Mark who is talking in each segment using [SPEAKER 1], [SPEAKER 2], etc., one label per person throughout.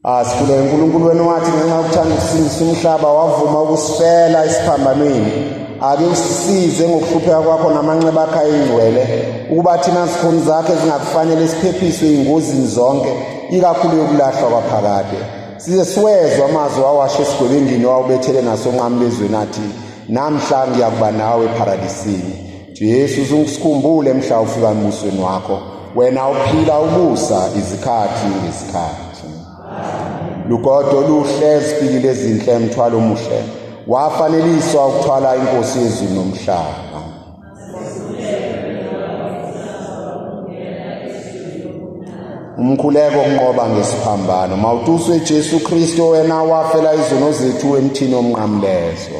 [SPEAKER 1] Asikhule uNkulunkulu wenu wathi ngenxa yokuthanda ukusindisa umhlaba wavuma ukusifela isiphambanweni. Ake usisize ngokuhlupheka kwakho namanxeba akho ayingcwele ukuba thina zikhoni zakhe zingakufanele siphephiswe ingozini zonke ikakhulu yokulahlwa kwaphakade. Size siwezwa amazwi wawasho esigwebengini wawubethele nasonqamlezweni athi namhla ngiyakuba nawe eparadisini. Jesu uzungisikhumbule mhla ufika emusweni wakho wena uphila ubusa izikhathi ngezikhathi lugodo oluhle zifikile ezinhle mthwalo omuhle wafaneliswa ukuthwala inkosi yezulu nomhlaba umkhuleko kunqoba ngesiphambano mawutuswe Jesu Kristo wena wafela izono zethu emthini omnqamlezo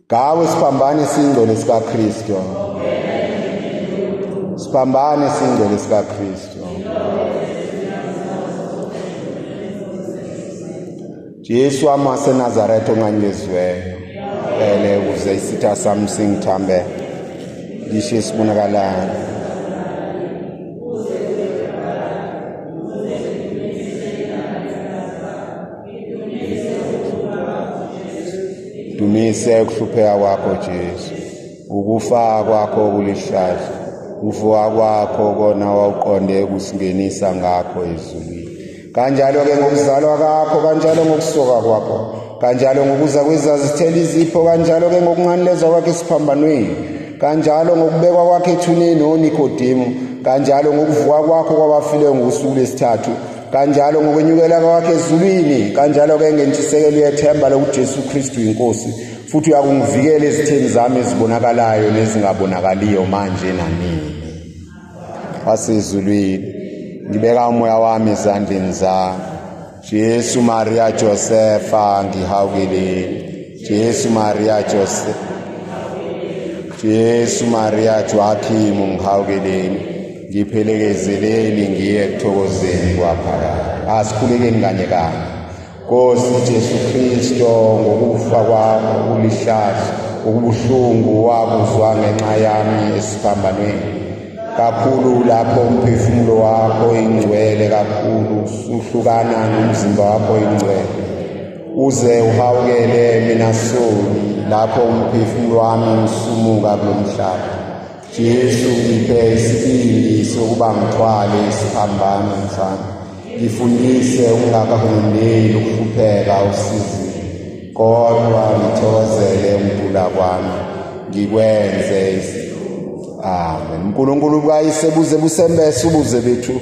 [SPEAKER 1] Gawe siphambane singcwele sikaKristu. Siphambane singcwele sikaKristu. Jesu amase Nazareth ongangeziweyo. Ele ukuze isitha sami singithambe. Ngisho isibonakalayo. dumise ukuhlupheka kwakho Jesu ukufa kwakho kulihlazo ukuvuka kwakho kona wawuqonde ukusingenisa ngakho ezulwini kanjalo-ke ngokuzalwa kakho kanjalo ngokusoka kwakho kanjalo ngokuza kwezazithela izipho kanjalo-ke ngokunganilezwa kwakhe esiphambanweni kanjalo ngokubekwa kwakhe ethuneni onikodemu kanjalo ngokuvuka kwakho kwabafileyo ngosuku lwesithathu kanjalo ngokwenyukela kwakhe ezulwini kanjalo-ke ngentshisekelo yethemba lokuthi jesu kristu yinkosi futhi uyakungivikela ezitheni zami ezibonakalayo nezingabonakaliyo manje nanini wasezulwini ngibeka umoya wami ezandleni zami jesu maria josefa ngihawukeleni Jesu Maria Jose Jesu Maria Joachimu ngihawukeleni ngiphelekezeleni ngiye ekuthokozeni kwaphakade asikhulekeni kanye kanye Nkosi Jesu Kristo ngokufa kwakho ulihlazo ukubuhlungu wakuzwa ngenxa yami esiphambanweni kakhulu lapho umphefumulo wakho ingcwele kakhulu usuhlukana nomzimba wakho ingcwele uze uhawukele mina soni lapho umphefumulo wami usumuka kulo mhlaba jesu ngiphe isibindi sokuba ngithwale isiphambano mfana ngifundise ungakahulumeli ukuhlupheka usizini kodwa ngithokozele umdula kwami ngikwenze amen unkulunkulu kayise buze busembese ubuze bethu